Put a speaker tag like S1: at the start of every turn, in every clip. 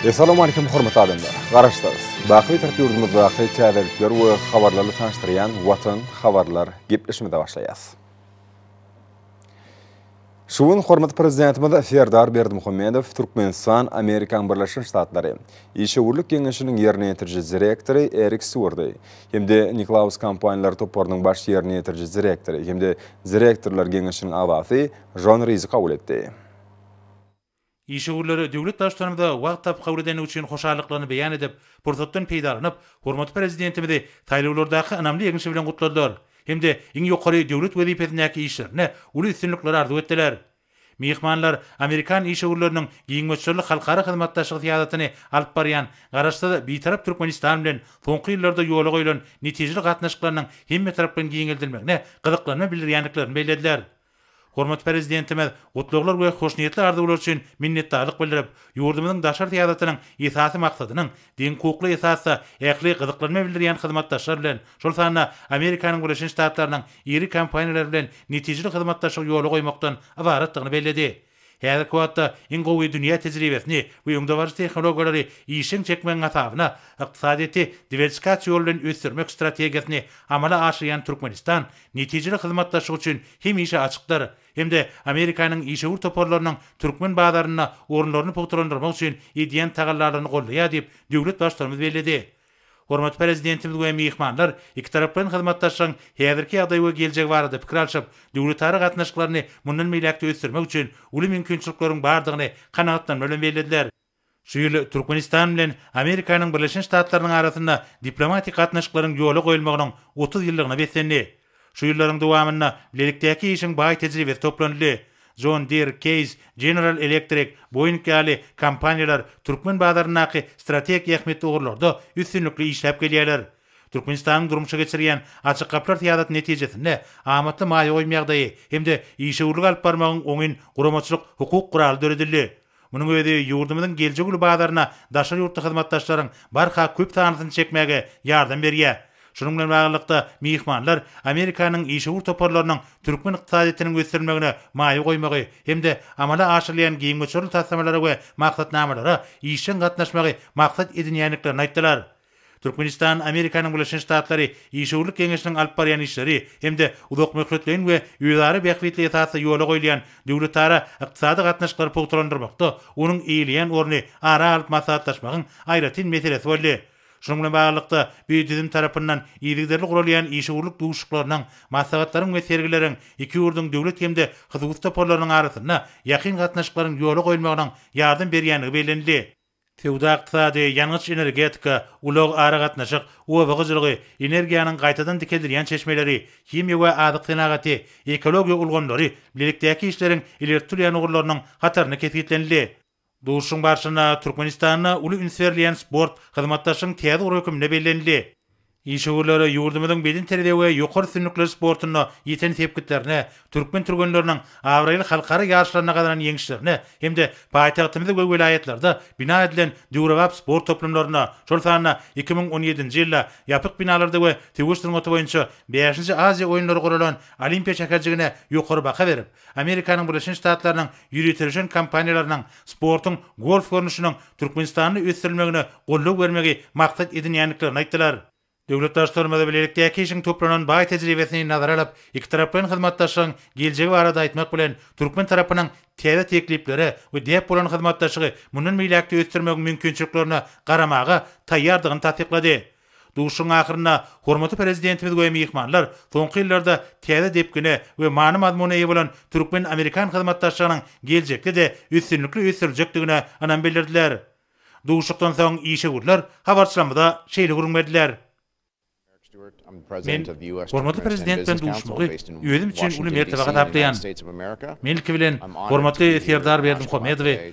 S1: Essalamu Aleýkum hormatly adamlar! Garaşsyz, baky Bitarap ýurdumyzdaky täzelikler we habarlary tanyşdyrýan Watan habarlar gepleşimize başlaýas. Şu gün hormatly Prezidentimiz Serdar Berdimuhamedow Türkmenistan Amerikaň Birleşen Ştatlary işewürlik geňeşiniň ýerine ýetiriji direktory Erik Stýuardy hem-de Niklaus kompaniýalary toparynyň baş ýerine ýetiriji direktory hem-de direktorlar geňeşiniň agzasy Jon Rizi kabul etdi. Işewürlere
S2: Döwlet Baştutanymyza wagt tapyp kabul edendigi üçin hoşallyklaryny beýan edip, pursatdan peýdalanyp, hormatly Prezidentimizi saýlawlardaky ynamly ýeňşi bilen gutladylar hem-de iň ýokary döwlet wezipesindäki işlerinde uly üstünlikleri arzuw etdiler. Myhmanlar amerikan işewürleriniň giň möçberli halkara hyzmatdaşlygy syýasatyny alyp barýan Garaşsyz, Bitarap Türkmenistan bilen soňky ýyllarda ýola goýlan netijeli gatnaşyklarynyň hemmetaraplaýyn giňeldilmegine gyzyklanma bildirýändiklerini bellediler. Hormatly Prezidentimiz gutlaglar we hoşniýetli arzuwlar üçin minnetdarlyk bildirip, ýurdumyzyň daşary syýasatynyň esasy maksadynyň deň hukukly esasda ähli gyzyklanma bildirýän hyzmatdaşlar bilen, şol sanda Amerikanyň Birleşen Ştatlarynyň iri kompaniýalary bilen netijeli hyzmatdaşlygy ýola goýmakdan ybaratdygyny belledi. Häzirki wagtda iň gowy dünýä tejribesini we öňdebaryjy tehnologiýalary işjeň çekmegiň hasabyna ykdysadyýeti diwersikasiýa ýoly bilen ösdürmek strategiýasyny amala aşyrýan Türkmenistan netijeli hyzmatdaşlyk üçin hemişe açykdyr hem-de Amerikanyň işewür toparlarynyň türkmen bazarynda orunlaryny pugtalandyrmak üçin edýän tagallalaryny goldaýar diýip, döwlet Baştutanymyz belledi. Hormatly Prezidentimiz we myhmanlar ikitaraplaýyn hyzmatdaşlygyň häzirki ýagdaýy we geljegi barada pikir alşyp, döwletara gatnaşyklaryny mundan beýläk-de ösdürmek üçin uly mümkinçilikleriň bardygyny kanagatlanma bilen bellediler. Şu ýyl Türkmenistan bilen Amerikanyň Birleşen Ştatlarynyň arasynda diplomatik gatnaşyklaryň ýola goýulmagynyň otuz ýyllygyna beslendi. Şu ýyllaryň dowamynda bilelikdäki işiň baý tejribesi toplanyldy. John Deere, Case, General Electric, Boeing ýaly kompaniýalar türkmen bazaryndaky strategik ähmiýetli ugurlarda üstünlikli işläp gelýärler. Türkmenistanyň durmuşa geçirýän Açyk gapylar syýasaty netijesinde amatly maýa goýum ýagdaýy hem-de işewürlik alyp barmagyň oňyn guramaçylyk-hukuk guraly döredildi. Munuň özi ýurdumyzyň geljek uly bazaryna daşary ýurtly hyzmatdaşlaryň barha köp sanlysyny çekmäge ýardam berýär. Şunuň bilen baglylykda, myhmanlar Amerikanyň işewür toparlarynyň türkmen ykdysadyýetiniň ösdürilmegine maýa goýmagy hem-de amala aşyrylýan giň möçberli taslamalara we maksatnamalara işjeň gatnaşmagy maksat edinýändiklerini aýtdylar. Türkmenistan Amerikanyň Birleşen Ştatlary Işewürlik geňeşiniň alyp barýan işleri hem-de uzakmöhletleýin we özara bähbitli esasda ýola goýulýan döwletara ykdysady gatnaşyklary pugtalandyrmakda onuň eýeleýän orny ara alyp maslahatlaşmagyň aýratyn meselesi boldy. Şunuň bilen baglylykda, bu düzüm tarapyndan yzygiderli guralýan işewürlik duşuşyklarynyň, maslahatlaryň we sergileriň iki ýurduň döwlet hem-de hususy toparlarynyň arasynda ýakyn gatnaşyklaryň ýola goýulmagynyň ýardam berýändigi bellenildi. Söwda-ykdysady, ýangyç-energetika, ulag-aragatnaşyk, oba hojalygy, energiýanyň gaýtadan dikeldilýän çeşmeleri, himiýa we azyk senagaty, ekologiýa ulgamlary bilelikdäki işleriň ileri tutulýan ugurlarynyň hatarynda kesgitlenildi. Duşuşygyň barşynda Türkmenistanda uly üns berilýän sport hyzmatdaşlygyň täze ugry hökmünde bellenildi. Işewürlere ýurdumyzyň bedenterbiýe we ýokary üstünlikler sportunda ýeten sepgitlerine, türkmen türgenleriniň abraýly halkara ýaryşlarynda gazanan ýeňişlerine hem-de paýtagtymyzda we welaýatlarda bina edilen döwrebap sport toplumlaryna, şol sanda iki müň on ýedinji ýylda ýapyk binalarda we söweş sungaty boýunça bäşinji Aziýa oýunlary guralan Olimpiýa şäherjigine ýokary baha berip, Amerikanyň Birleşen Ştatlarynyň ýöriteleşen kompaniýalarynyň sportuň golf görnüşiniň Türkmenistanda ösdürilmegine goldaw bermegi maksat edinýändiklerini aýtdylar. Döwletdaşlarymyz bilelikdäki işiň toplanan baý tejribesini nazara alyp, ikitaraplaýyn hyzmatdaşlygyň geljegi barada aýtmak bilen, türkmen tarapynyň täze tekliplere we däp bolan hyzmatdaşlygy mundan beýläk-de ösdürmegiň mümkinçiliklerine garamaga taýýardygyny tassyklady. Duşuşygyň ahyrynda hormatly Prezidentimiz we myhmanlar soňky ýyllarda täze depgine we many-mazmuna eýe bolan türkmen-amerikan hyzmatdaşlygynyň geljekde-de üstünlikli ösdüriljekdigine ynam bildirdiler. Duşuşykdan soň işewürler habarçylarymyza şeýle gürrüň berdiler. Men hormatly Prezident bilen duşuşmagy özüm üçin uly mertebe hasaplaýan. Men ilki bilen hormatly Serdar Berdimuhamedowy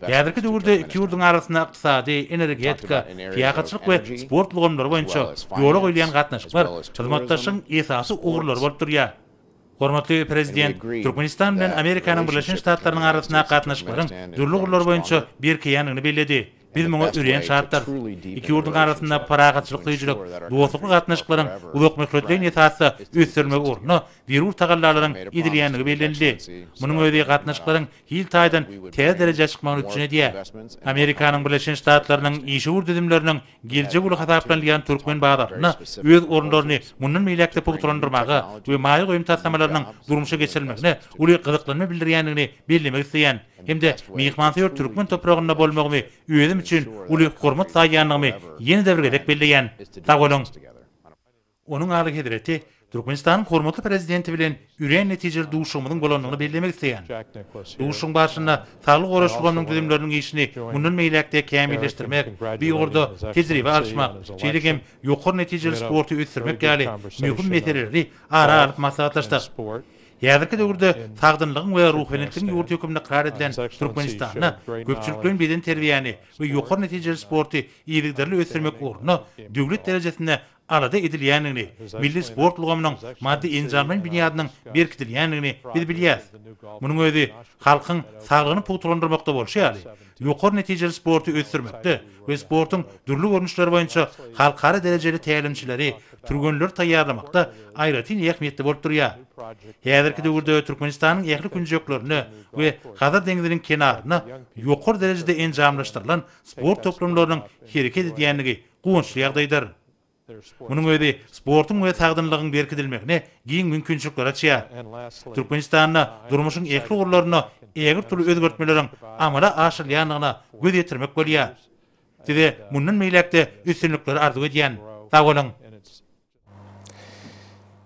S2: Häzirki döwürde iki ýurduň arasynda ykdysady, energetika, syýahatçylyk we sport ulgamlary boýunça ýola goýulýan gatnaşyklar hyzmatdaşlygyň esasy ugurlary bolup durýar. Hormatly Prezident Türkmenistan bilen Amerikanyň Birleşen Ştatlarynyň arasyndaky gatnaşyklaryň dürli ugurlar boýunça berkeýändigini belledi. Biz muňa örän şatdyrys. Iki ýurduň arasynda parahatçylyk söýüjilik, dostlukly gatnaşyklaryň uzakmöhletleýin esasda ösdürilmegi ugrunda zerur tagallalaryň edilýändigi bellenildi. Munuň özi gatnaşyklaryň hil taýdan täze derejä çykmagyny üpjün edýär. Amerikanyň Birleşen Ştatlarynyň işewür düzümleriniň geljek uly hasaplanylýan türkmen bazarynda öz orunlaryny mundan beýläk-de pugtalandyrmaga we maýa goýum taslamalarynyň durmuşa geçirilmegine uly gyzyklanma bildirýändigini bellemek isleýän. hem-de myhmansöýer türkmen topragynda bolmagymy özüm üçin uly hormat saýýandygymy ýene-de bir gezek belleýän. Sag boluň! Onuň Alyhezreti Türkmenistanyň hormatly Prezidenti bilen örän netijeli duşuşygymyzyň bolandygyny bellemek isleýän. Duşuşygyň barşynda Saglygy goraýyş ulgamynyň düzümleriniň işini mundan beýläk-de kämilleşdirmek, bu ugurda tejribe alyşmak, şeýle hem ýokary netijeli sporty ösdürmek ýaly möhüm meseleleri ara alyp maslahatlaşdyk. Häzirki döwürde sagdynlygyň we ruhubelentligiň ýurdy hökmünde ykrar edilen Türkmenistanda köpçülikleýin bedenterbiýäni we ýokary netijeli sporty yzygiderli ösdürmek ugrunda döwlet derejesinde alada edilýändigini, milli sport ulgamynyň maddy-enjamlaýyn binýadynyň berkidilýändigini biz bilýäris. Munuň özi halkyň saglygyny pugtalandyrmakda bolşy ýaly, ýokary netijeli sporty ösdürmekde we sportuň dürli görnüşleri boýunça halkara derejeli tälimçileri, türgenleri taýýarlamakda aýratyn ähmiýetli bolup durýar. Häzirki döwürde Türkmenistanyň ähli künjeklerinde we Hazar deňziniň kenarynda ýokary derejede enjamlaşdyrylan sport toplumlarynyň hereket edýändigi guwançly ýagdaýdyr. Munuň özi sportuň we sagdynlygyň berkidilmegine giň mümkinçilikler açýar. Türkmenistanda durmuşyň ähli ugurlarynda ägirt uly özgertmeleriň amala aşyrylýandygyna göz ýetirmek bolýar. Size mundan beýläk-de üstünlikleri arzuw edýän. Sag boluň!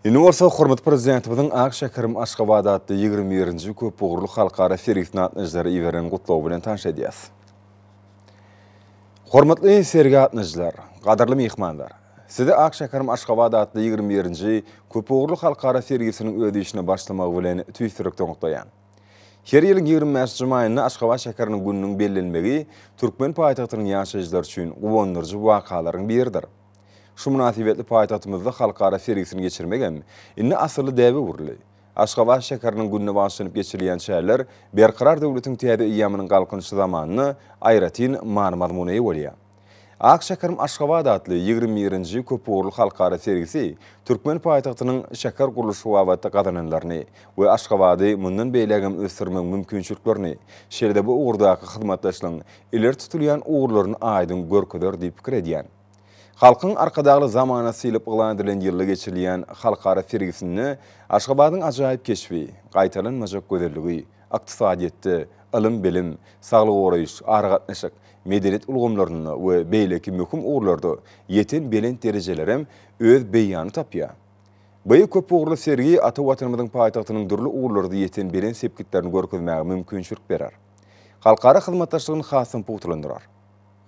S1: Indi bolsa hormatly Prezidentimiziň Ak şäherim Aşgabat atly ýigrimi birinji köpugurly halkara sergisine gatnaşyjylara iberen gutlagy bilen tanyş edýäs. Hormatly sergi gatnaşyjylar, gadyrly myhmanlar! Sizi Ak şäherim Aşgabat atly ýigrimi birinji köpugurly halkara sergisiniň öz işine başlamagy bilen tüýs ýürekden gutlaýan. Her ýylyň ýigrimi bäşji maýynda Aşgabat şäheriniň gününiň bellenmegi türkmen paýtagtynyň ýaşaýjylary üçin guwandyryjy wakalaryň biridir. Şu mynasybetli paýtagtymyzda halkara sergisini geçirmegem indi asylly däbe öwrüldi. Aşgabat şäheriniň gününe bagyşlanyp geçirilýän çäreler Berkarar döwletiň täze eýýamynyň Galkynyşy zamanynda aýratyn many-mazmuna eýe bolýar. Ak şäherim Aşgabat atly ýigrimi birinji köpugurly halkara sergisi türkmen paýtagtynyň şäher gurluşy babatda gazananlaryny we Aşgabady mundan beýlägem ösdürmegiň mümkinçiliklerini, şeýle-de bu ugurdaky hyzmatdaşlygyň ileri tutulýan ugurlaryny aýdyň görkezer diýip pikir edýän. Halkyň Arkadagly zamanasy diýlip yglan edilen ýylda geçirilýän halkara sergisinde Aşgabadyň ajaýyp keşbi, gaýtalanmajak gözelligi, ykdysadyýetde, ylym-bilim, saglygy goraýyş, aragatnaşyk, medeniýet ulgamlarynda we beýleki möhüm ugurlarda ýeten belent derejelerem öz beýanyny tapýar. Bu köpugurly sergi ata Watanymyzyň paýtagtynyň dürli ugurlarda ýeten belent sepgitlerini görkezmäge mümkinçilik berer. Halkara hyzmatdaşlygyny hasam pugtalandyrar.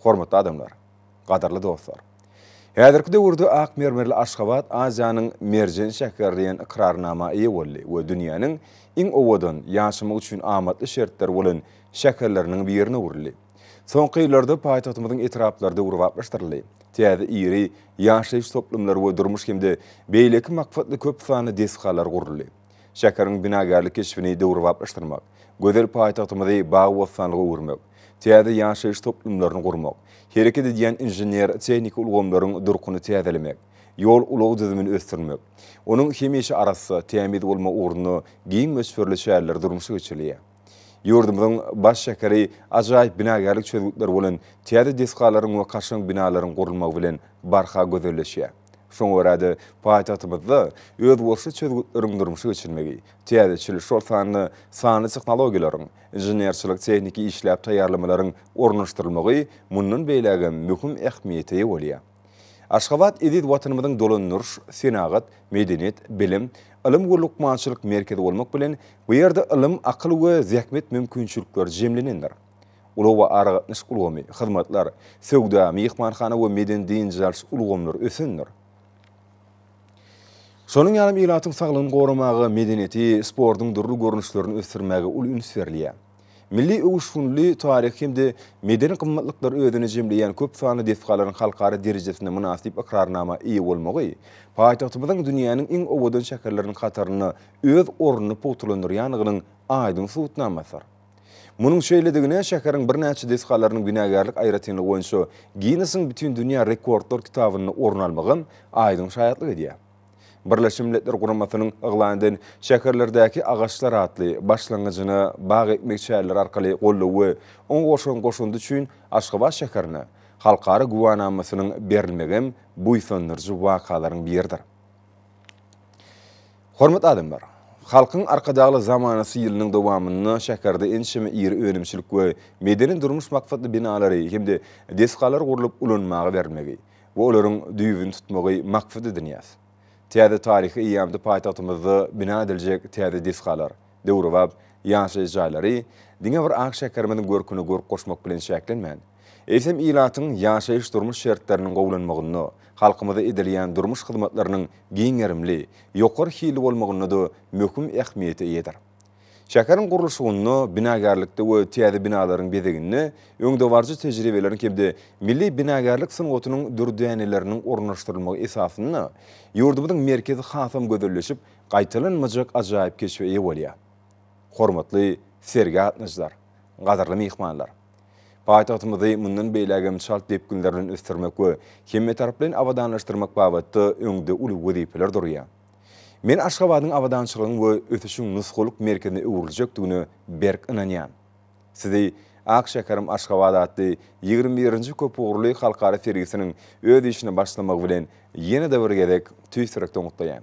S1: Hormatly adamlar! Gadyrly dostlar! Häzirki döwürde ak mermerli Aşgabat Aziýanyň merjen şäheri diýen ykrarnama eýe boldy we dünýäniň iň owadan, ýaşamak üçin amatly şertleri bolan şäherleriniň birine öwrüldi. Soňky ýyllarda paýtagtymyzyň etraplary döwrebaplaşdyryldy. Täze iri ýaşaýyş toplumlary we durmuş hem-de beýleki maksatly köp sanly desgalar guruldy. şäheriň binagärlik keşbini döwrebaplaşdyrmak, gözel paýtagtymyzy bagy-bossanlyga öwürmek, täze ýaşaýyş toplumlaryny gurmak, hereket edýän inžener-tehniki ulgamlaryň durkuny täzelemek, ýol-ulag düzümini ösdürmek, onuň hemişe arassa, tämiz bolmagy ugrunda giň möçberli çäreler durmuşa geçirilýär. Ýurdumyzyň baş şäheri ajaýyp binagärlik çözgütleri bolan täze desgalaryň we kaşaň binalaryň gurulmagy bilen barha gözelleşýär. Şoňa görä-de, paýtagtymyzda özboluşly çözgütleriň durmuşa geçirilmegi, täzeçil, şol sanda sanly tehnologiýalaryň, inženerçilik-tehniki işläp taýýarlamalaryň ornaşdyrylmagy mundan beýlägem möhüm ähmiýete eýe bolýar. Aşgabat eziz Watanymyzyň dolandyryş, senagat, medeniýet, bilim, ylym we lukmançylyk merkezi bolmak bilen, bu ýerde ylym, akyl we zähmet mümkinçilikleri jemlenendir. Ulag we aragatnaşyk ulgamy, hyzmatlar, söwda, myhmanhana we medeni-dynç alyş ulgamlary ösendir. Şonuň ýalam ilatyň saglygyny goramaga, medeniýeti, sportuň dürli görnüşlerini ösdürmäge uly üns berilýär. Milli öwüşginli taryhy hem-de medeni gymmatlyklary özüne jemleýän köp sanly desgalaryň halkara derejesinde mynasyp ykrarnama eýe bolmagy paýtagtymyzyň dünýäniň iň owadan şäherleriniň hatarynda öz ornuny pugtalandyrýandygynyň aýdyň subutnamasydyr. Munuň şeýledigine şäheriň birnäçe desgalarynyň günägärlik aýratynlygy boýunça Ginnesiň Bütindünýä rekordlar kitabynda orun almagam aýdyň şaýatlyk edýär. Birleşen Milletler Guramasynyň yglan eden Şäherlerdäki agaçlar atly başlangyjyna bag ekmek çäreleri arkaly goldaw we oňa goşan goşandy üçin Aşgabat şäherine Halkara güwänamasynyň berilmegem buýsandyryjy wakalaryň biridir. Hormatly adamlar! Halkyň Arkadagly zamanasy ýylynyň dowamynda şäherde ençeme iri önümçilik we medeni-durmuş maksatly binalary hem-de desgalar gurlup ulanmaga berilmegi we olaryň düýbüni tutmagy maksat edinýäs. Täze taryhy eýýamda paýtagtymyzda bina ediljek täze desgalar, döwrebap ýaşaýyş jaýlary diňe bir ak şäherimiziň görküne görk goşmak bilen çäklenmän, eýsem, ilatyň ýaşaýyş-durmuş şertleriniň gowulanmagynda, halkymyza edilýän durmuş hyzmatlarynyň giň gerimli, ýokary hilli bolmagynda-da möhüm ähmiýete eýedir. Şäheriň gurluşygynda, binagärlikde we täze binalaryň bezeginde öňdebaryjy tejribeleriň hem-de milli binagärlik sungatynyň dürdäneleriniň ornaşdyrylmagy esasynda ýurdumyzyň merkezi hasam gözelleşip, gaýtalanmajak ajaýyp keşbe eýe bolýar. Hormatly sergi gatnaşyjylar, gadyrly myhmanlar! Paýtagtymyzy mundan beýlägem çalt depginler bilen ösdürmek we hemmetaraplaýyn abadanlaşdyrmak babatda öňde uly wezipeler durýar. Men Aşgabadyň abadançylygyň we ösüşiň nusgalyk merkezine öwrüljekdigine berk ynanýan. Sizi Ak şäherim Aşgabat atly ýigrimi birinji köpugurly halkara sergisiniň öz işine başlamagy bilen ýene-de bir gezek tüýs ýürekden gutlaýan.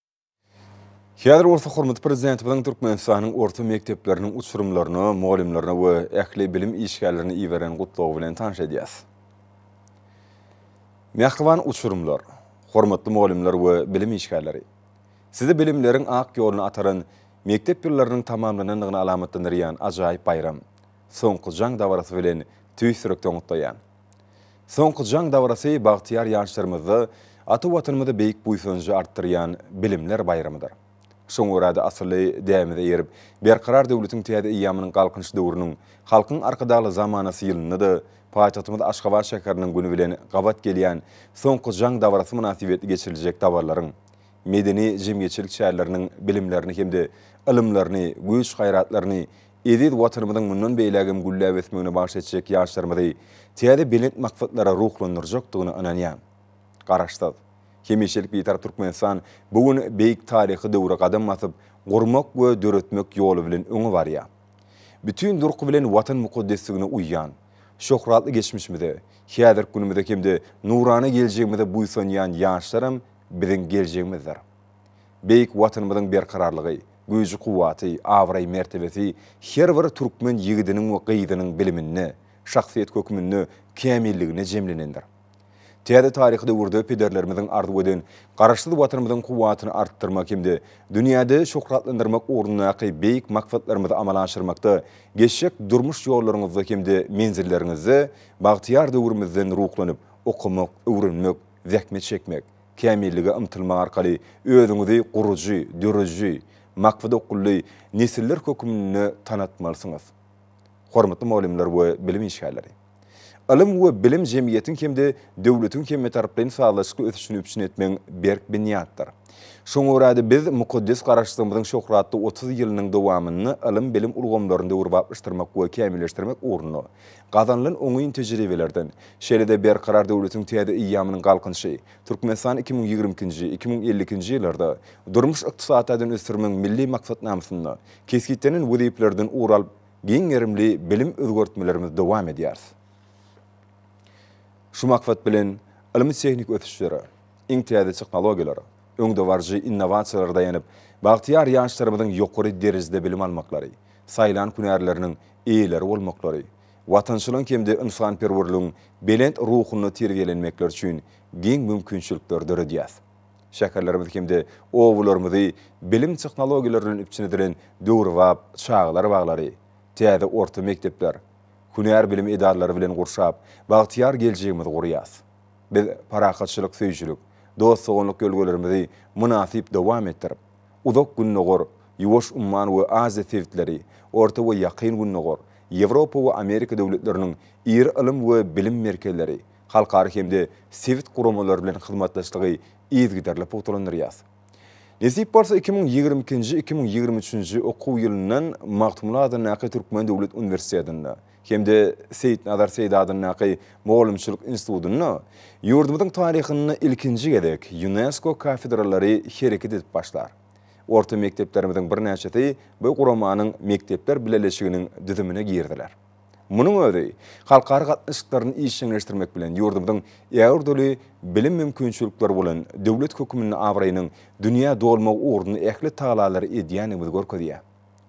S1: Häzir bolsa hormatly Prezidentimiziň Türkmenistanyň orta mekdepleriniň uçurymlaryna, mugallymlaryna we ähli bilim işgärlerine iberen gutlagy bilen tanyş edýäs. Mähriban uçurymlar, hormatly mugallymlar we bilim işgärleri! Sizi bilimleriň ak ýoluna ataran mekdep ýyllarynyň tamamlanandygyny alamatlandyrýan ajaýyp baýram, soňky jaň dabarasy bilen tüýs ýürekden gutlaýan. Soňky jaň dabarasy bagtyýar ýaşlarymyzda ata Watanymyza beýik buýsanjy artdyrýan Bilimler baýramydyr. Şoňa görä-de asylly däbimize eýerip, Berkarar döwletiň täze eýýamynyň Galkynyş döwrüniň Halkyň Arkadagly zamanasy ýylynda-da paýtagtymyz Aşgabat şäheriniň güni bilen gabat gelýän Soňky jaň dabarasy mynasybetli geçiriljek dabaralaryň, medeni-jemgyýetçilik çäreleriniň bilimlerini hem-de ylymlaryny, güýç-gaýratlaryny eziz Watanymyzyň mundan beýlägem gülläp ösmegine bagş etjek ýaşlarymyzy täze belent maksatlara ruhlandyrjakdygyna ynanýan Garaşsyz, hemişelik Bitarap Türkmenistan bu gün beýik taryhy döwre gadam basyp, gurmak we döretmek ýoly bilen öňe barýar. Bütin durky bilen Watan mukaddesligine uýýan, şöhratly geçmişimize, häzirki günümize hem-de nurana geljegimize buýsanýan ýaşlaram biziň geljegimizdir. Beýik Watanymyzyň berkararlygy, güýji-kuwwaty, abraý-mertebesi her bir türkmen ýigidiniň we gyzynyň biliminde, şahsyýet hökmünde kämilliginde jemlenendir. Täze taryhy döwürde pederlerimiziň arzuw eden Garaşsyz Watanymyzyň kuwwatyny artdyrmak hem-de dünýäde şöhratlandyrmak ugrundaky beýik maksatlarymyzy amala aşyrmakda geçjek durmuş ýollaryňyzda hem-de menzilleriňizde bagtyýar döwrümizden ruhlanyp, okamak, öwrenmek, zähmet çekmek, Kämillige ymtylmak arkaly özüňizi gurujy, dörüji, maksada okgunly nesiller hökmünde tanatmalysyňyz. Hormatly mugallymlar we bilim işgärleri! Ylym we bilim jemgyýetiň hem-de döwletiň hemmetaraplaýyn sazlaşykly ösüşini üpjün etmegiň berk binýatdyr. Şoňa görä-de, biz mukaddes Garaşsyzlygymyzyň şöhratly otuz ýylynyň dowamynda ylym-bilim ulgamlaryny döwrebaplaşdyrmak we kämilleşdirmek ugrunda Gazanylan oňyn tejribelerden, şeýle-de Berkarar döwletiň täze eýýamynyň Galkynyşy, Türkmenistan iki müň ýigrimi ikinji, iki müň elli ikinji ýyllarda durmuş-ykdysady taýdan ösdürmegiň Milli maksatnamasynda kesgitlenen wezipelerden ugur alyp, giň gerimli bilim özgertmelerimizi dowam edýäris. Şu maksat bilen, ylmy-tehniki ösüşlere, iň täze tehnologiýalara, öňdebaryjy innowasiýalara daýanyp, bagtyýar ýaşlarymyzyň ýokary derejede bilim almaklary, saýlan hünärleriniň eýeleri bolmaklary, watançylygyň hem-de ynsanperwerligiň belent ruhunda terbiýelenmekleri üçin giň mümkinçilikleri döredýär. Şäherlerimizi hem-de obalarymyzy bilim tehnologiýalary bilen üpjün edilen döwrebap çagalar baglary, täze orta mekdepler, hünär bilim edaralary bilen gurşap, bagtyýar geljegimizi gurýarys. Biz parahatçylyk söýüjilik, dost-doganlyk ýörelgelerimizi mynasyp dowam etdirip, Uzak Gündogar, Ýuwaş umman we Aziýa sebitleri, Orta we Ýakyn Gündogar, Ýewropa we Amerika döwletleriniň iri ylym we bilim merkezleri, halkara hem-de sebit guramalary bilen hyzmatdaşlygy yzygiderli pugtalandyrýas. Nesip bolsa iki müň ýigrimi ikinji-iki müň ýigrimi üçünji okuw ýylyndan Magtymguly adyndaky Türkmen döwlet uniwersitetinde, hem-de Seýitnazar Seýdi adyndaky mugallymçylyk institutynda ýurdumyzyň taryhynda ilkinji gezek Ýunesko kafedralary hereket edip başlar. Orta mekdeplerimiziň birnäçesi bu guramanyň mekdepler bileleşiginiň düzümine girdiler. Munuň özi halkara gatnaşyklaryny işjeňleşdirmek bilen ýurdumyzyň äur dürli bilim mümkinçilikleri bolan döwlet höküminde abraýynyň dünýä dolmagy ugrunda ähli tagalary edýändigimizi görkezýär.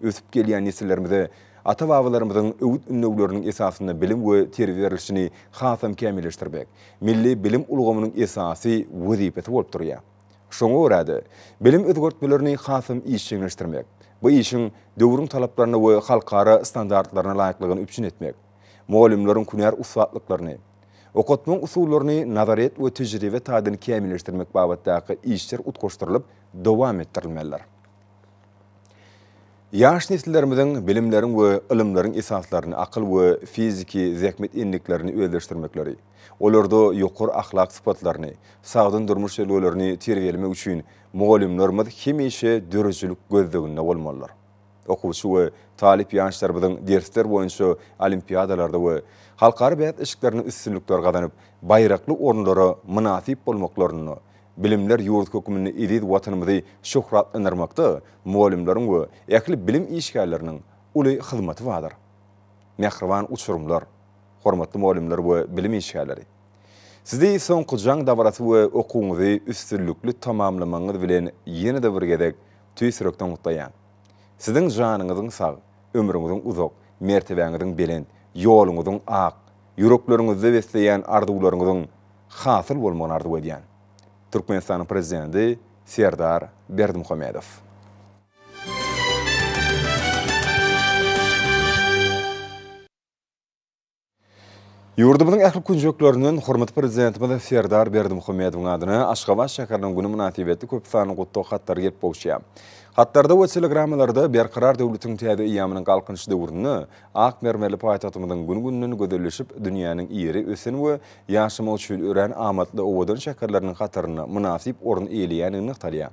S1: ösüp gelýän nesillerimize ata-babalarymyzyň öwüt-ündewleriniň esasynda bilim we terbiýe berilişini hasam kämilleşdirmek milli bilim ulgamynyň esasy wezipesi bolup durýar. Şoňa görä-de, bilim özgertmelerini hasam işjeňleşdirmek, bu işiň döwrüň talaplaryna we halkara standartlaryna laýyklygyny üpjün etmek, mugallymlaryň hünär ussatlyklaryny, okatmagyň usullaryny nazaryýet we tejribe taýdan kämilleşdirmek babatdaky işler utgaşdyrylyp dowam etdirilmelidir. Ýaş nesillerimiziň bilimleriň we ylymlaryň esaslaryny, akyl we fiziki zähmet endiklerini özleşdirmekleri, olarda ýokary ahlak sypatlaryny, sagdyn durmuş ýörelgelerini terbiýelemek üçin mugallymlarymyz hemişe döredijilik gözleginde bolmalydyr. Okuwçy we talyp ýaşlarymyzyň dersler boýunça olimpiadalarda we halkara bäsleşiklerinde üstünlikler gazanyp, baýrakly orunlara mynasyp bolmaklarynda Bilimler ýurdy hökmünde eziz Watanymyzy şöhratlandyrmakda mugallymlaryň we ähli bilim işgärleriniň uly hyzmaty bardyr. Mähriban uçurymlar! Hormatly mugallymlar we bilim işgärleri! Sizi soňky jaň dabarasy we okuwyňyzy üstünlikli tamamlamagyňyz bilen ýene-de bir gezek tüýs ýürekden gutlaýan. Siziň janyňyzyň sag, ömrüňiziň uzak, mertebäňiziň belent, ýoluňyzyň ak, Ýürekleriňizde besleýän arzuwlaryňyzyň hasyl bolmagyny arzuw edýän. Türkmenistanyň Prezidenti Serdar Berdimuhamedow. Ýurdumyzyň ähli künjeklerinden hormatly Prezidentimiz Serdar Berdimuhamedowyň adyna Aşgabat şäheriniň güni mynasybetli köp sanly gutlag hatlary gelip gowuşýar. Hatlarda we telegrammalarda Berkarar döwletiň täze eýýamynyň Galkynyş döwründe Ak mermerli paýtagtymyzyň gün-günden gözelleşip, dünýäniň ýeri ösen we ýaşamak üçin örän amatly owadan şäherleriniň hatarynda mynasyp orun eýeleýändigi nygtalýar.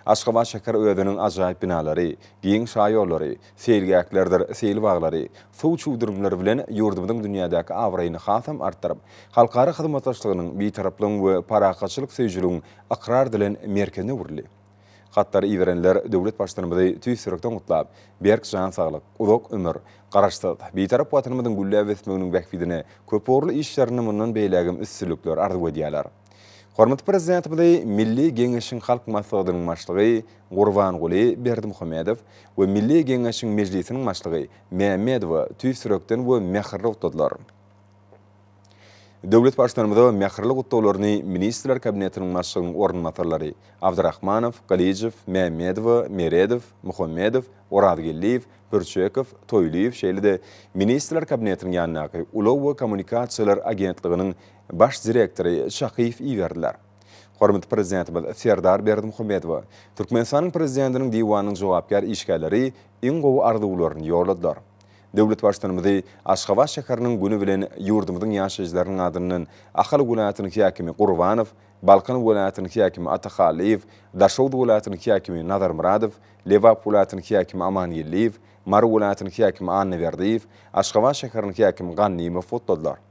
S1: Aşgabat şäher özüniň ajaýyp binalary, giň şaýollary, seýilgählerdir seýil baglary, suw çüwdürimleri bilen ýurdumyzyň dünýädäki abraýyny hasam artdyryp, halkara hyzmatdaşlygynyň, bitaraplygyň we parahatçylyk söýüjiligiň ykrar edilen merkezine öwrüldi. Hatlary iberenler döwlet Baştutanymyzy tüýs ýürekden gutlap, berk jan saglyk, uzak ömür, Garaşsyz, Bitarap Watanymyzyň gülläp ösmeginiň bähbidine köp ugurly işlerinde mundan beýlägem üstünlikler arzuw edýärler. Hormatly Prezidentimizi Milli Geňeşiň Halk Maslahatynyň Başlygy Gurbanguly Berdimuhamedow we Milli Geňeşiň Mejlisiniň Başlygy Mämmedowa tüýs ýürekden we mähirli gutladylar. Döwlet Baştutanymyza mähirli gutlaglaryny Ministrler Kabinetiniň Başlygynyň orunbasarlary Abdyrahmanow, Gylyjow, Mämmedowa, Meredow, Muhammedow, Orazgeldiýew, Pürçekow, Toýlyýew şeýle-de Ministrler Kabinetiniň ýanyndaky Ulag we kommunikasiýalar agentliginiň Baş direktory Çakyýew iberdiler. Hormatly Prezidentimiz Serdar Berdimuhamedowa Türkmenistanyň Prezidentiniň Diwanynyň jogapkär işgärleri iň gowy arzuwlaryny ýolladylar. Döwlet Baştutanymyzy Aşgabat şäheriniň güni bilen ýurdumyzyň ýaşaýjylarynyň adyndan Ahal welaýatynyň häkimi Gurbanow, Balkan welaýatynyň häkimi Atahallyýew, Daşoguz welaýatynyň häkimi Nazarmyradow, Lebap welaýatynyň häkimi Amangeldiýew, Mary welaýatynyň häkimi Annaberdiýew, Aşgabat şäheriniň häkimi Gannyýew gutladylar.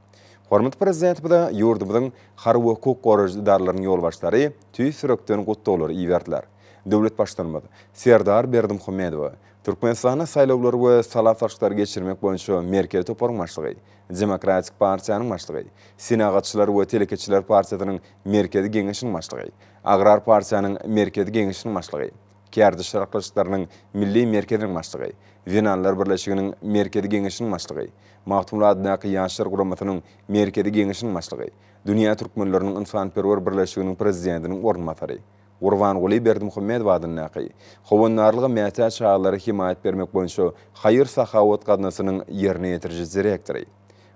S1: Hormatly Prezidentimize ýurdumyzyň harby we hukuk goraýjy edaralarynyň ýolbaşçylary tüýs ýürekden gutlaglary iberdiler. Döwlet Baştutanymyz Serdar Berdimuhamedowa Türkmenistanda saýlawlary we sala salşyklary geçirmek boýunça Merkezi toparyň başlygy, Demokratik partiýanyň başlygy, Senagatçylar we telekeçiler partiýasynyň Merkezi geňeşiniň başlygy, Agrar partiýanyň Merkezi geňeşiniň başlygy, Kärdeş saryklyçlarynyň milli merkeziniň başlygy, Zenanlar birleşiginiň Merkezi Geňeşiniň başlygy, Magtymguly adyndaky Ýaşlar guramasynyň Merkezi Geňeşiniň başlygy, Dünýä türkmenleriniň ynsanperwer birleşiginiň prezidentiniň orunbasary, Gurbanguly Berdimuhamedow adyndaky Howandarlyga mätäç çagalara hemaýat bermek boýunça haýyr-sahawat gaznasynyň ýerine ýetiriji direktory,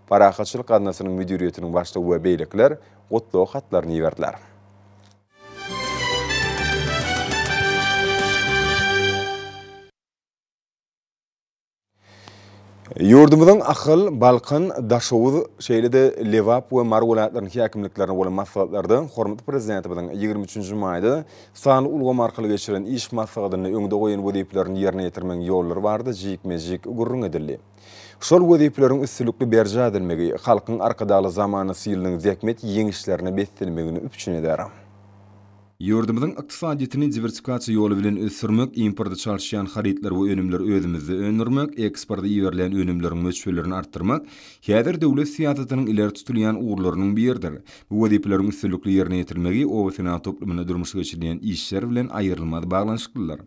S1: Parahatçylyk gaznasynyň müdiriýetiniň başlygy we beýlekiler gutlag hatlaryny iberdiler. Ýurdumyzyň Ahal, Balkan, Daşoguz, şeýle-de Lebap we Mary welaýatlarynyň häkimliklerine bolan maslahatlarda hormatly Prezidentimiziň ýigrimi üçünji maýda sanly ulgam arkaly geçiren iş maslahatynda öňde goýan wezipelerini ýerine ýetirmegiň ýollary barada jikme-jik gürrüň edildi. Şol wezipeleriň üstülikli berjaý edilmegi Halkyň Arkadagly zamanasy ýylynyň zähmet ýeňişlerine beslenmegini üpjün eder. Ýurdumyzyň ykdysadyýetini diwersifikasiýa ýoly bilen ösdürmek, importa çalyşýan harytlar we önümleri özümizde öndürmek, eksporta iberilýän önümleriň möçberlerini artdyrmak häzir döwlet syýasatynyň ileri tutulýan ugurlarynyň biridir. Bu wezipeleriň üstünlikli ýerine ýetirilmegi obasenagat toplumynda durmuşa geçirilýän işler bilen aýrylmaz baglanyşyklydyr.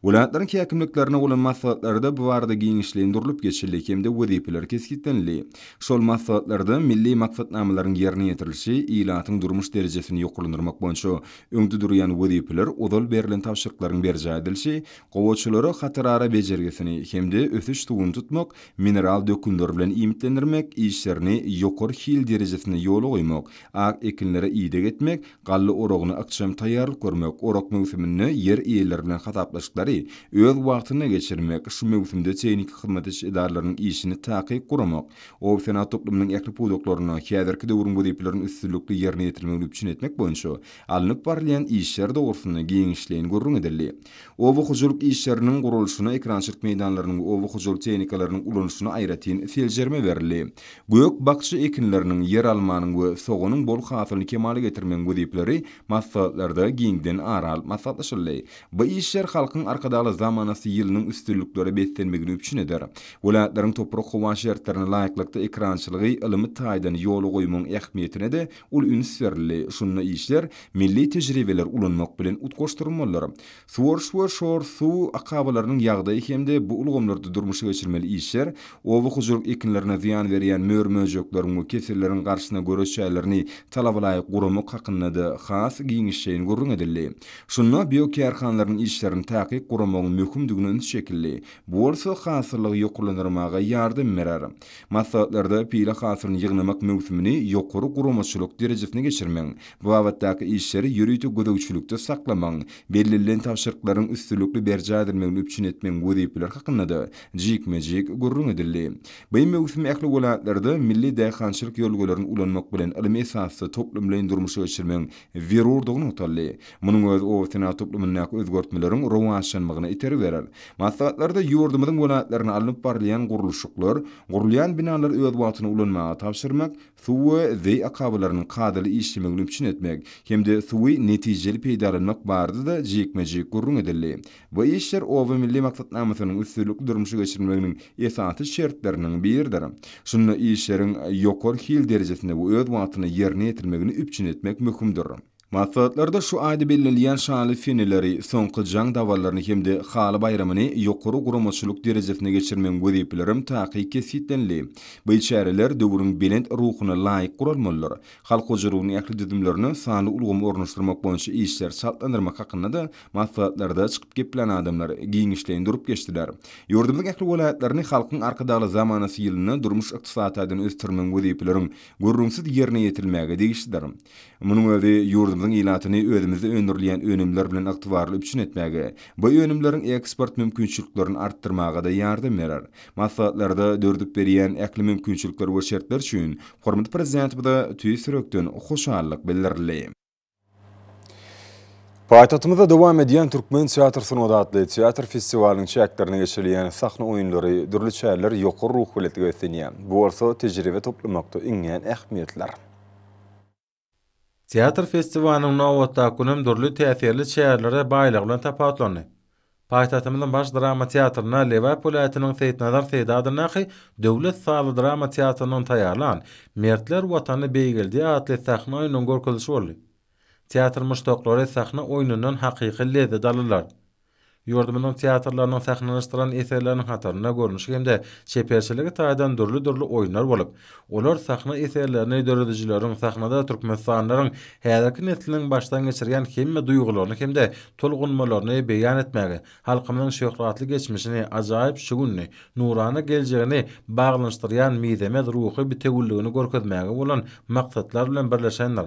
S1: Welaýatlaryň häkimliklerine bolan maslahatlarda bu barada giňişleýin durlup geçildi hem-de wezipeler kesgitlenildi. Şol maslahatlarda milli maksatnamalaryň ýerine ýetirilişi, ilatyň durmuş derejesini ýokarlandyrmak boýunça öňde durýan wezipeler, ozal berlen tabşyryklaryň berjaý edilişi, gowaçalary hatarara bejergisini hem-de ösüş suwuny tutmak, mineral dökünler bilen iýmitlendirmek işlerini ýokary hil derejesinde ýola goýmak, ak ekinlere ideg etmek, Galla oragyna ykjam taýýarlyk görmek, orak möwsüminde ýer eýeleri bilen hasaplaşyklary öz wagtynda geçirmek, şu möwsümde tehniki hyzmat ediş edaralarynyň işini takyk guramak, obasenagat toplumynyň ähli pudaklarynda häzirki döwrüň wezipelerini üstünlikli ýerine ýetirmegini üpjün etmek boýunça alnyp barylýan işler dogrusynda giňişleýin gürrüň edildi. Oba hojalyk işleriniň guralşyna, ekerançylyk meýdanlarynyň we oba hojalyk tehnikalarynyň ulanyşyna aýratyn seljerme berildi. Gök-bakja ekinleriniň, ýeralmanyň we soganyň bol hasylyny kemala getirmegiň wezipeleri maslahatlarda giňden ara alyp maslahatlaşyldy. Bu işler Halkyň Arkadagly zamanasy ýylynyň üstünliklere beslenmegini üpjün eder. Welaýatlaryň toprak-howa şertlerine laýyklykda ekerançylygy ylmy taýdan ýola goýmagyň ähmiýetine-de Uly üns berildi, şunda işler milli tejribeleri ulanmak bilen utgaşdyrylmalydyr. Suwaryş we şor suw akabalarynyň ýagdaýy hem-de bu ulgamlarda durmuşa geçirmeli işler oba hojalyk ekinlerine zyýan berýän mör-möjekleriň we keselleriň garşysyna göreş jaýlaryny talabalaýyk guramak hakynda-da has giňişleýin gürrüň edildi. Şunda biokärhanalaryň işlerini takyk guramagyň möhümdigine üns çekildi, bu bolsa hasyllygy ýokarlandyrmaga ýardam berer. Maslahatlarda pile hasylyny ýygnamak möwsümini ýokary guramaçylyk derejesinde geçirmegiň, bu babatdaky işleri ýörite gözegçilikde saklamagyň, bellenilen tabşyryklaryň üstünlikli berjaý edilmegini üpjün etmegiň wezipeleri hakynda-da jikme-jik gürrüň edildi. Beýi möwsümi ähli welaýatlarda milli daýhançylyk ýörelgelerini ulanmak bilen ylmy esasda toplumlaýyn durmuşa geçirmegiň zerurdygy nygtaldy. Munuň özi obasenagat toplumyndaky özgertmeleriň rowaçlanmagyna itergi berer. Maslahatlarda ýurdumyzyň welaýatlarynda alnyp barylýan gurluşyklar, gurulýan binalary öz wagtynda ulanmaga tabşyrmak, suw we zeý akabalarynyň kadaly işlemegini üpjün etmek hem-de suwy netijeli peýdalanmak barada-da jikme-jik gürrüň edildi. Bu işler Oba milli maksatnamasynyň üstünlikli durmuşa geçirilmeginiň esasy şertleriniň biridir. Şunda işleriň ýokary hil derejesinde we öz wagtynda ýerine ýetirilmegini üpjün etmek möhümdir. Maslahatlarda şu aýda bellenilýän şaly seneleri, soňky jaň dabarlaryny hem-de haly baýramyny ýokary guramaçylyk derejesinde geçirmegiň wezipelerem takyk kesgitlenildi. Beý çäreler döwrüň belent ruhuna laýyk guralmalydyr. Halk hojalygynyň ähli düzümlerine sanly ulgamy ornaşdyrmak boýunça işleri çaltlandyrmak hakynda-da Maslahatlarda çykyp geplän adamlar giňişleýin durup geçdiler. Ýurdumyzyň ähli welaýatlaryny Halkyň Arkadagly zamanasy ýylynda durmuş-ykdysady taýdan ösdürmegiň wezipeleriň gürrüňsiz ýerine ýetirilmäge degişlidir. Munuň özi ýurdumyzyň ilatyny özümizde öndürilýän önümler bilen ygtybarly üpjün etmäge, bu önümleriň eksport mümkinçiliklerini artdyrmaga-da ýardam berer. Maslahatlarda dördüp berýän ähli mümkinçilikler we şertler üçin hormatly Prezidentimize tüýs ýürekden hoşallyk bildirildi. Paýtagtymyzda dowam edýän Türkmen teatr sungat atly teatr festiwalynyň çäklerinde geçirilýän sahna oýunlary, dürli çäreler ýokary ruhubelentlige beslenýär. Bu bolsa tejribe toplamakda iňňän ähmiýetlidir.
S3: Teatr festiwalynyň nobatdaky günem dürli täsirli çärelere baýlygy bilen tapawutlandy. Paýtagtymyzyň Baş drama teatrynda Lebap welaýatynyň Seýitnazar Seýdi adyndaky döwlet sazly-drama teatrynyň taýýarlan Mertler Watany beýgeldi atly sahna oýnunyň görkezilişi boldy. Teatr muşdaklary sahna oýnundan hakyky lezzet aldylar. Ýurdumyzyň teatrlarynyň sahnalanyşdyran eserleriniň hatarynda görnüşi hem-de çeperçiligi taýdan dürli-dürli oýunlar bolup, Olar sahna eserlerini döredijileriň, sahnada türkmenistanlylaryň häzirki nesliniň başdan geçirýän hemme duýgularyny hem-de tolgunmalaryny beýan etmäge, halkymyzyň şöhratly geçmişini, ajaýyp şu gününi, nurana geljegini baglanyşdyrýan mizemez ruhy bitewüligini görkezmäge bolan maksatlar bilen birleşendir.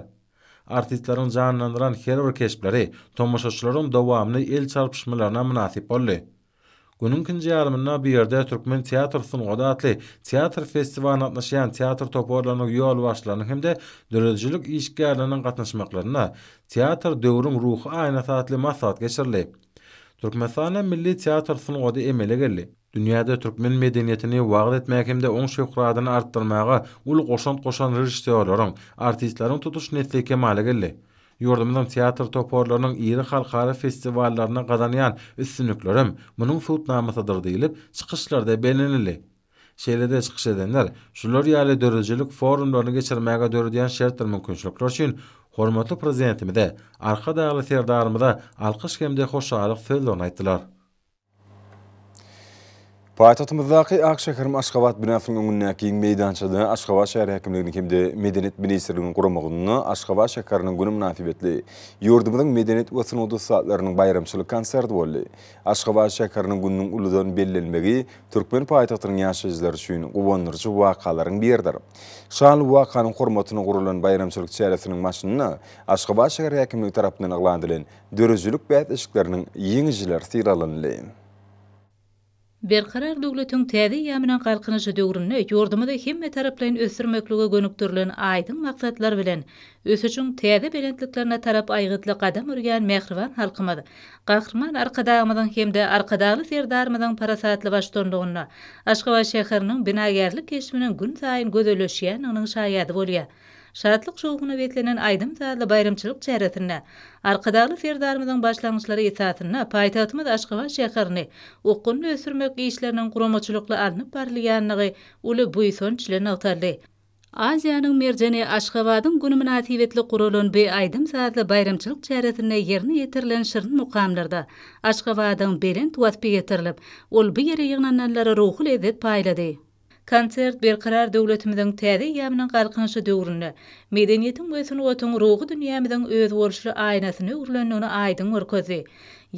S3: Artistleriň janlandyran her bir keşpleri tomaşaçylaryň dowamly el çarpyşmalaryna mynasyp boldy. Günüň ikinji ýarymynda bu ýerde Türkmen teatr sungaty atly teatr festiwalyna gatnaşýan teatr toparlarynyň ýolbaşçylarynyň hem-de döredijilik işgärleriniň gatnaşmaklarynda Teatr, döwrüň ruhy aýnasy atly maslahat geçirildi. Türkmenistanda milli teatr sungaty emele geldi. Dünýäde türkmen medeniýetini wagyz etmäge hem-de oň şöhratyny artdyrmaga uly goşant goşan režissýorlaryň, artistleriň tutuş nesli kemala geldi. Ýurdumyzyň teatr toparlarynyň iri halkara festiwallarynda gazanýan üstünliklerem munuň subutnamasydyr diýlip, çykyşlarda bellenildi. Şeýle-de çykyş edenler şular ýaly döredijilik forumlaryny geçirmäge döredýän şertdir mümkinçilikler üçin hormatly Prezidentimize, Arkadagly Serdarymyza alkyş hem-de hoşallyk sözlerini aýtdylar.
S1: Paýtagtymyzdaky Ak şäherim Aşgabat binasynyň öňündäki giň meýdançada Aşgabat şäher häkimliginiň hem-de Medeniýet ministrliginiň guramagynda Aşgabat şäheriniň güni mynasybetli ýurdumyzyň medeniýet we sungat ussatlarynyň baýramçylyk konserti boldy. Aşgabat şäheriniň gününiň uludan bellenilmegi türkmen paýtagtynyň ýaşaýjylary üçin guwandyryjy wakalaryň biridir. Şanly wakanyň hormatyna guralan baýramçylyk çäresiniň başynda Aşgabat şäher häkimligi tarapyndan yglan edilen Döredijilik bäsleşikleriniň ýeňijileri sylalandy.
S4: Berkarar döwletiň täze eýýamynyň Galkynyşy döwründe ýurdumyzy hemmetaraplaýyn ösdürmeklige gönükdirilen aýdyň maksatlar bilen ösüşiň täze belentliklerine tarap aýgytly gadam urýan mähriban halkymyz Gahryman Arkadagymyzyň hem-de Arkadagly Serdarymyzyň parasatly baştutanlygynda Aşgabat şäheriniň binagärlik keşbiniň günsaýyn gözelleşýändiginiň şaýady bolýar. Şatlyk-şowhuna beslenen aýdym-sazly baýramçylyk çäresinde Arkadagly Serdarymyzyň başlangyçlary esasynda paýtagtymyz Aşgabat şäherini okgunly ösdürmek işleriniň guramaçylykly alnyp barylýandygy uly buýsanç ile nygtaldy. Aziýanyň merjeni Aşgabadyň güni mynasybetli guralan bu aýdym-sazly baýramçylyk çäresinde ýerine ýetirilen şirin mukamlarda Aşgabadyň belent waspy ýetirilip, ol bu ýere ýygnananlara ruhy lezzet paýlady. Konsert Berkarar döwletimiziň täze eýýamynyň Galkynyşy döwründe medeniýetiň we sungatyň ruhy dünýämiziň özboluşly aýnasyna öwrülendigini aýdyň görkezdi.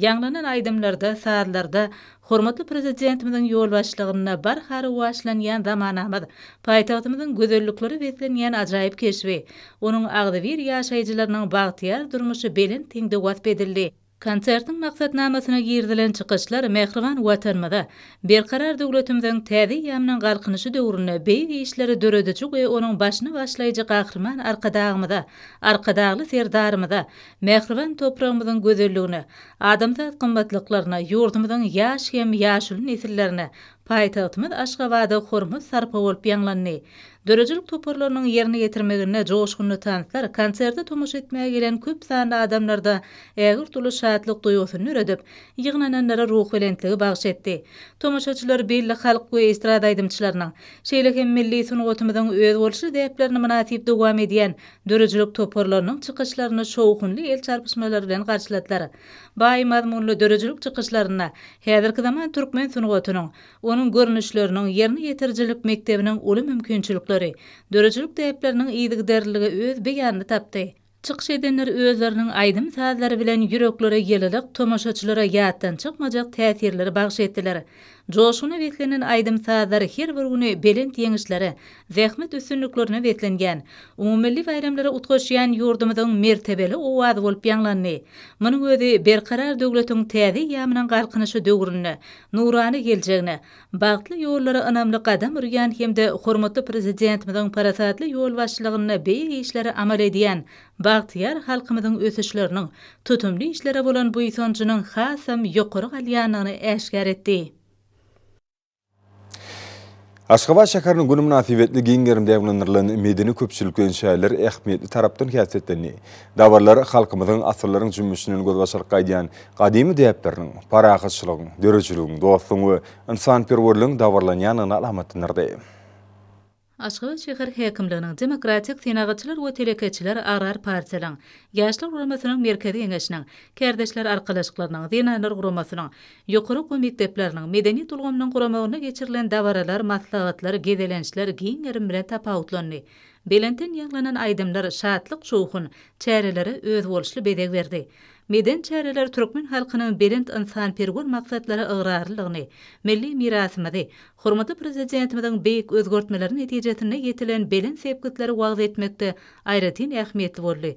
S4: Ýaňlanan aýdymlarda, sazlarda hormatly Prezidentimiziň ýolbaşçylygynda barha rowaçlanýan zamanamyz, paýtagtymyzyň gözelliklere beslenýän ajaýyp keşbi, onuň agzybir ýaşaýjylarynyň bagtyýar durmuşy belent hilde wasp edildi. Konsertiň maksatnamasyna girizilen çykyşlar mähriban Watanymyza, Berkarar döwletimiziň täze eýýamynyň Galkynyşy döwründe beýik işleri dörediji we onuň başyny başlaýjy Gahryman Arkadagymyza, Arkadagly Serdarymyza, mähriban topragymyzyň gözelligine, adamzat gymmatlyklaryna, ýurdumyzyň ýaş hem ýaşuly nesillerine Paýtagtymyz Aşgabada hormat sarpa bolup ýaňlandy. Döredijilik toparlarynyň ýerine ýetirmeginde joşgunly tanslar konserte tomaşa etmäge gelen köp sanly adamlarda ägirt uly şatlyk duýgusyny döredip, ýygnananlara ruhbelentligi bagyş etdi. Tomaşaçylar belli halk we estrada aýdymçylarynyň, şeýle hem milli sungatymyzyň özboluşly däplerini mynasyp dowam edýän döredijilik toparlarynyň çykyşlaryny şowhunly el çarpyşmalar bilen garşyladylar. Baý mazmunly döredijilik çykyşlarynda häzirki zaman türkmen sungatynyň, onuň görnüşleriniň, ýerine ýetirijilik mekdebiniň uly mümkinçilikleri, döredijilik däpleriniň yzygiderliligi öz beýanyny tapdy. Çykyş edenler özleriniň aýdym-sazlary bilen ýüreklere ýylylyk, tomaşaçylara ýatdan çykmajak täsirleri bagyş etdiler. Joşguna beslenen aýdym-sazlar her bir güni belent ýeňişlere, zähmet üstünliklerine beslenýän, umumymilli baýramlary utgaşýan ýurdumyzyň mertebeli owazy bolup ýaňlandy. Munuň özi Berkarar döwletiň täze eýýamynyň Galkynyşy döwründe nurana geljegine, bagtly ýollara ynamly gadam urýan hem-de hormatly Prezidentimiziň parasatly ýolbaşçylygynda beýik işleri amal edýän bagtyýar halkymyzyň ösüşleriniň, tutumly işlere bolan buýsanjynyň hasam ýokary galýandygyny äşgär etdi.
S1: Aşgabat şäheriniň güni mynasybetli giň gerim dabaralandyrylan medeni-köpçülik bilen şäherler ähmiýetli tarapdan häsiýetlendi. Dabaralar halkymyzyň asyrlaryň jümmüşinden gözbaşaryk gaýdýan gadymy däpleriniň, parahatçylygyň, döredijiligiň, dostlugyň we ynsanperwerligiň dabaralanýandygyny alamatlandyrdy.
S4: Aşgabat şäher häkimliginiň, Demokratik senagatçylar we telekeçiler agrar partiýalyň, Ýaşlar guramasynyň Merkezi geňeşiniň, Kärdeşler arkalaşyklarynyň, Zenanlar guramasynyň, ýokary okuw mekdepleriniň, medeniýet ulgamynyň guramagynda geçirilen dabaralar, maslahatlar, gezelençler giň gerim bilen tapawutlandy. Belentden ýaňlanan aýdymlar, şatlyk-şowhun çärelere özboluşly bezeg berdi. Medeni çäreler türkmen halkynyň belent ynsanperwer maksatlara ygrarlylygyny, milli mirasymyzy, Hormatly Prezidentimiziň beýik özgertmeleri netijesinde ýetilen belent sepgitleri wagyz etmekde aýratyn ähmiýetli boldy.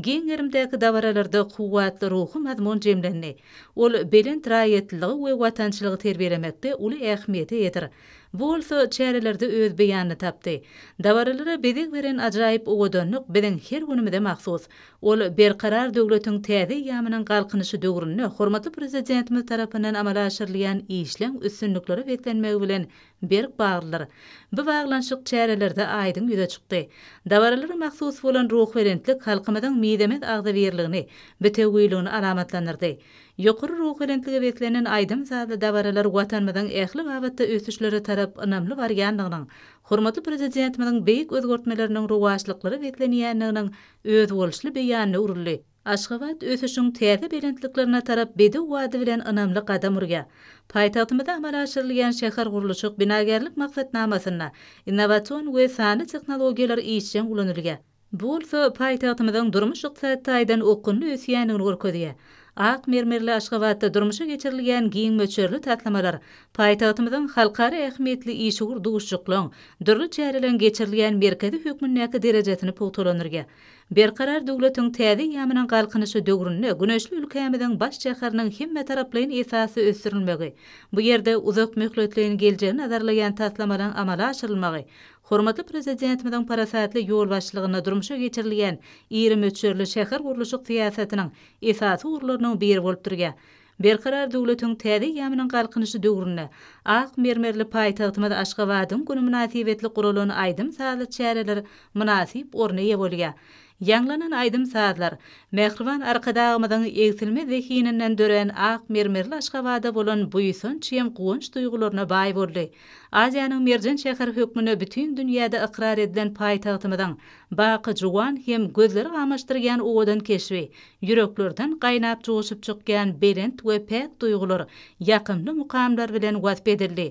S4: Giň gerimdäki dabaralarda kuwwatly ruhy mazmun jemlendi. Ol belent raýatlylygy we watançylygy terbiýelemekde uly ähmiýete eýedir. Bu bolsa çärelerde öz beýanyny tapdy. Dabaralara bezeg beren ajaýyp owadanlyk biziň her günümize mahsus. Ol Berkarar döwletiň täze eýýamynyň Galkynyşy döwründe hormatly Prezidentimiz tarapyndan amala aşyrylýan işleň üstünliklere beslenmegi bilen berk baglydyr. Bu baglanyşyk çärelerde aýdyň ýüze çykdy. Dabaralara mahsus bolan ruhubelentlik halkymyzyň mizemez agzybirligini, bitewüligini alamatlandyrdy. Ýokary ruhubelentlige beslenen aýdym-sazly dabaralar Watanymyzyň ähli babatda ösüşlere tarap ynamly barýandygynyň, hormatly Prezidentimiziň beýik özgertmeleriniň rowaçlyklara beslenýändiginiň özboluşly beýanyna uruldy. Aşgabat ösüşiň täze belentliklerine tarap bedew wady bilen ynamly gadam urýar. Paýtagtymyzda amala aşyrylýan şähergurluşyk-binagärlik maksatnamasynda innowasion we sanly tehnologiýalar işjeň ulanylýar. Bu bolsa paýtagtymyzyň durmuş-ykdysady taýdan okgunly ösýändigini görkezýär. Ak mermerli Aşgabatda durmuşa geçirilýän giň möçberli taslamalar Paýtagtymyzyň halkara ähmiýetli işewür duşuşyklaryň, dürli çäreleriň geçirilýän merkezi hökmündäki derejesini pugtalandyrýar. Berkarar döwletiň täze eýýamynyň Galkynyşy döwründe güneşli ülkämiziň baş şäheriniň hemmetaraplaýyn esasda ösdürilmegi, bu ýerde uzakmöhletleýin geljegi nazarlaýan taslamalaryň amala aşyrylmagy hormatly Prezidentimiziň parasatly ýolbaşçylygynda durmuşa geçirilýän iri möçberli şähergurluşyk syýasatynyň esasy ugurlarynyň biri bolup durýar. Berkarar döwletiň täze eýýamynyň Galkynyşy döwründe ak mermerli paýtagtymyz Aşgabadyň güni mynasybetli guralan aýdym-sazly çäreler mynasyp orna eýe bolýar. Ýaňlanan aýdym-sazlar mähriban Arkadagymyzyň egsilmez zehininden dörän ak mermerli Aşgabada bolan buýsanç hem guwanç duýgularyna baý boldy. Aziýanyň merjen şäheri hökmünde bütin dünýäde ykrar edilen paýtagtymyzyň baky juwan hem gözleri gamaşdyrýan owadan keşbi Ýüreklerden gaýnap joşup çykýan belent we päk duýgular ýakymly mukamlar bilen wasp edildi.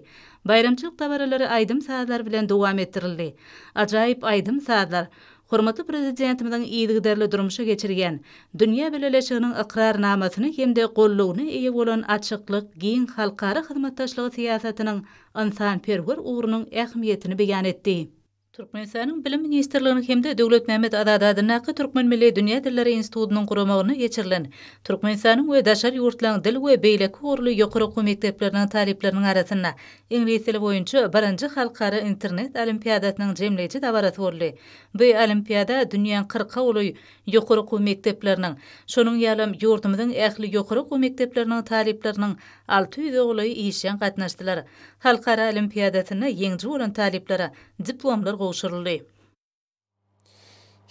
S4: Baýramçylyk dabaralary aýdym-sazlar bilen dowam etdirildi. Ajaýyp aýdym-sazlar, hormatly Prezidentimiziň yzygiderli durmuşa geçirýän, dünýä bileleşiginiň ykrarnamasyny hem-de goldawyna eýe bolan açyklyk, giň halkara hyzmatdaşlygy syýasatynyň ynsanperwer ugrunyň ähmiýetini beýan etdi. Türkmenistanyň Bilim ministrliginiň hem-de Döwletmämmet Azady adyndaky Türkmen milli dünýä dilleri institutynyň guramagynda geçirilen Türkmenistanyň we daşary ýurtlaryň dil we beýleki ugurly ýokary okuw mekdepleriniň talyplarynyň arasynda iňlis dili boýunça birinji halkara internet olimpiadasynyň jemleýji dabarasy boldy. Bu olimpiada dünýäň kyrka uly Ýokary okuw mekdepleriniň, şonuň ýalam ýurdumyzyň ähli ýokary okuw mekdepleriniň talyplarynyň alty ýüze golaýy işjeň gatnaşdylar. Halkara olimpiadasynda ýeňiji bolan talyplara diplomlar gowşuryldy.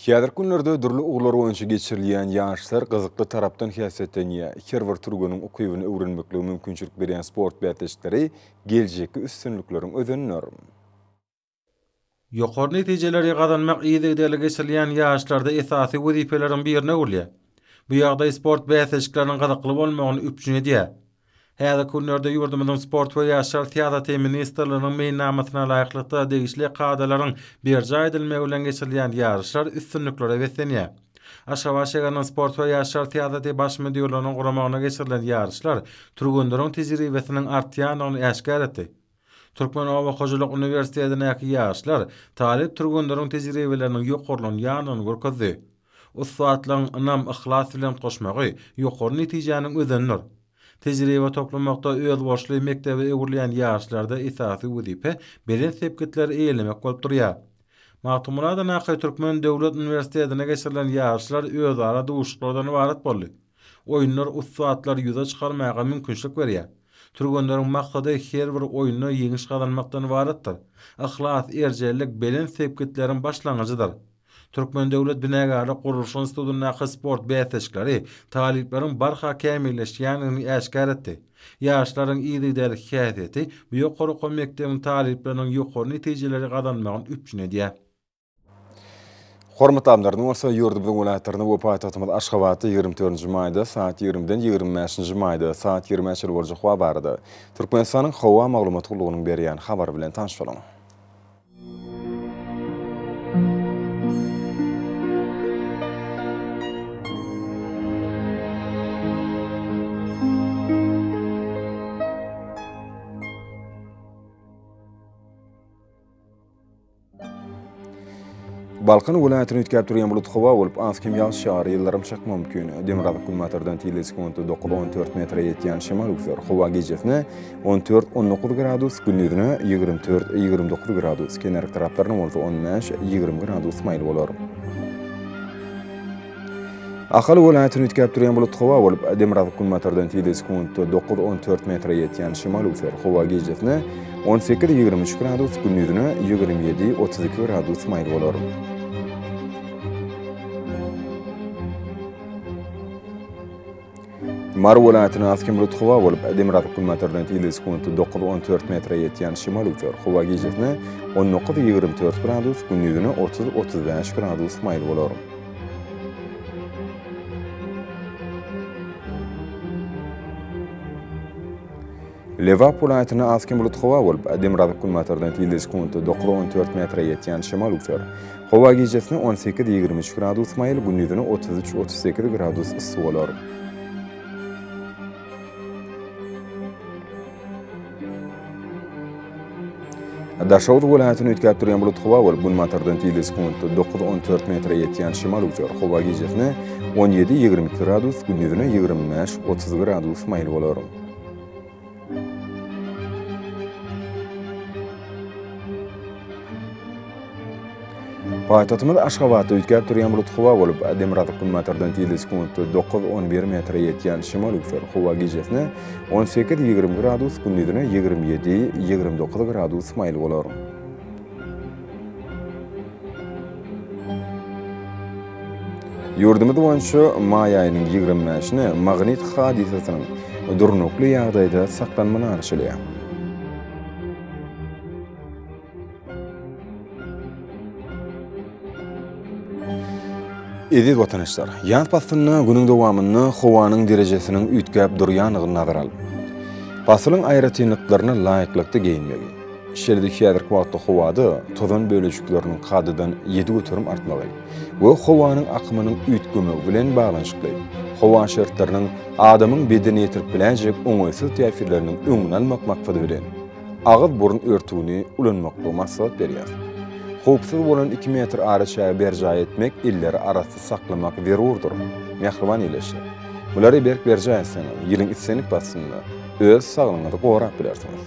S1: Häzirki günlerde dürli ugurlar boýunça geçirilýän ýaryşlar gyzykly tarapdan häsiýetlenýär. Her bir türgeniň ukybyny öwrenmeklige mümkinçilik berýän sport bäsleşikleri geljekki üstünlikleriň özendir.
S3: Ýokary netijeleri gazanmak yzygiderli geçirilýän ýaryşlarda esasy wezipeleriň birine öwrülýär. Bu ýagdaý sport bäsleşikleriniň gyzykly bolmagyny üpjün edýär. Häzirki günlerde ýurdumyzyň Sport we ýaşlar syýasaty ministrliginiň meýilnamasyna laýyklykda degişli kadalaryň berjaý edilmegi bilen geçirilýän ýaryşlar üstünliklere beslenýär. Aşgabat şäheriniň Sport we ýaşlar syýasaty Baş müdirliginiň guramagyna geçirilen ýaryşlar türgenleriň tejribesiniň artýandygyny äşgär etdi. Türkmen oba hojalyk uniwersitetindäki ýaşlar talyp türgenleriň tejribeleriniň ýokarlanýandygyny görkezdi. Ussatlygyň ynam-yhlas bilen goşmagy ýokary netijäniň özenidir. Tejribe toplamakda özboluşly mekdebe öwrülýän ýaşlarda esasy wezipe belent sepgitleri eýelemek bolup durýar. Magtymguladanaky Türkmen döwlet uniwersitetinde geçirilen ýaşlar özara duşuşyklardan ybarat boldy. Oýunlar ussatlary ýüze çykarmaga mümkinçilik berýär. Türgenleriň maksady her bir oýunda ýeňiş gazanmakdan ybaratdyr. Yhlas, erjellik belent sepgitleriň başlangyjydyr. Türkmen döwlet binagärlik gurluş institutyndaky sport bäsleşikleri talyplaryň barha kämilleşýändigini äşgär etdi. Ýaşlaryň yzygiderli häsiýeti bu ýokary okuw mekdebiň talyplarynyň ýokary netijeleri gazanmagyny üpjün edýär. Hormatly
S1: adamlar, indi bolsa ýurdumyzyň welaýatlaryna we paýtagtymyz Aşgabatda ýigrimi dördünji maýda sagat ýigrimiden ýigrimi bäşinji maýda sagat ýigrimi çenli boljak howa barada Türkmenistanyň howa maglumat gullugynyň berýän habary bilen tanyş boluň. Balkan welaýatyny üýtgäp durýan bulut howa bolup, az kem ýagyş ýagar, ýyldyrym çakma mümkin. Demirgazyk günbatardan tizligi sekuntda dokuz, on dört metre ýetýän şemal üwser. Howa gijesine on dört, on dokuz gradus, gündizine ýigrimi dört, ýigrimi dokuz gradus, kenar taraplaryna bolsa on bäş, ýigrimi gradus maýyl bolar. Ahal welaýatyny üýtgäp durýan bulut howa bolup, demirgazyk günbatardan tizligi sekuntda dokuz, on dört metre ýetýän şemal üwser. Howa gijesine on sekiz, ýigrimi üç gradus, gündizine ýigrimi ýedi, otuz iki gradus maýyl bolar. Mary welaýatynyň Askemrut howa bolup, demirgazyk günbatardan ýyly sekundy dokuz on dört metre ýetýän şemal öwser. Howa gijesine on dokuz ýigrimi dört gradus, gündizine otuz otuz bäş gradus maýyl bolar. Lebap welaýatynda az hem bulut howa bolup, demirgazyk-günbatardan tizligi sekuntda dokuz on dört metre ýetýän şemal üwser. Howa gijesine on sekiz ýigrimi üç gradus maýyl, gündizine otuz üç otuz sekiz gradus yssy bolar. Daşoguz welaýatyny üýtgäp durýan bulut howa bolup, günbatardan tizligi sekuntda dokuz on dört metre ýetýän şemal üwser. Howa gijesine on ýedi ýigrimi iki gradus, gündizine ýigrimi bäş otuz gradus maýyl bolar. Paýtagtymyz Aşgabatda üýtgäp durýan bulut howa bolup, demirgazyk günbatardan tizligi sekuntda dokuz, on bir metre ýetýän şimal-üsgür howa gijesine on sekiz, ýigrimi gradus, gündizine ýigrimi ýedi, ýigrimi dokuz gradus maýyl bolar. Ýurdumyz boýunça maý aýynyň ýigrimi bäşine magnit hadysasynyň durnukly ýagdaýda saklanma garaşylýar. Eziz watandaşlar, ýaz paslynda günüň dowamynda howanyň derejesiniň üýtgäp durýandygyny nazara alyp, pasylyň aýratynlyklaryna laýyklykda geýinmegi, Şeýle-de häzirki wagtda howada tozan bölejikleriniň kadadan ýedi göterim artmagy we howanyň akymynyň üýtgemegi bilen baglanyşykly howa şertleriniň adamyň bedenine ýetirip biläýjek oňaýsyz täsirleriniň öňüni almak maksady bilen, agyz-burun örtügini ulanmaklygy maslahat berýär. Howpsuz bolan iki metr araçägi berjaý etmek, elleri arassyz saklamak zerurdyr. Mähriban ýylaýyşlar! Bulary berk berjaý etseňiz, ýylyň islendik paslynda öz saglygyňyzy gorap bilersiňiz.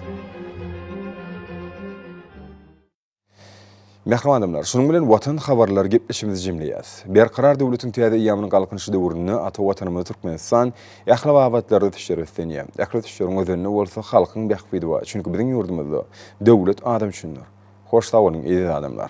S1: Mähriban adamlar, şunuň bilen Watan habarlary gepleşigimizi jemleýäs. Berkarar döwletiň täze eýýamynyň Galkynyşy döwründe ata Watanymyz Türkmenistan ähli babatlarda düşer öslenýär. Ähli düşeriň özenini bolsa halkyň bähbidi bar, çünki biziň ýurdumyzda döwlet adam üçindir. Hoş sag boluň, eziz adamlar!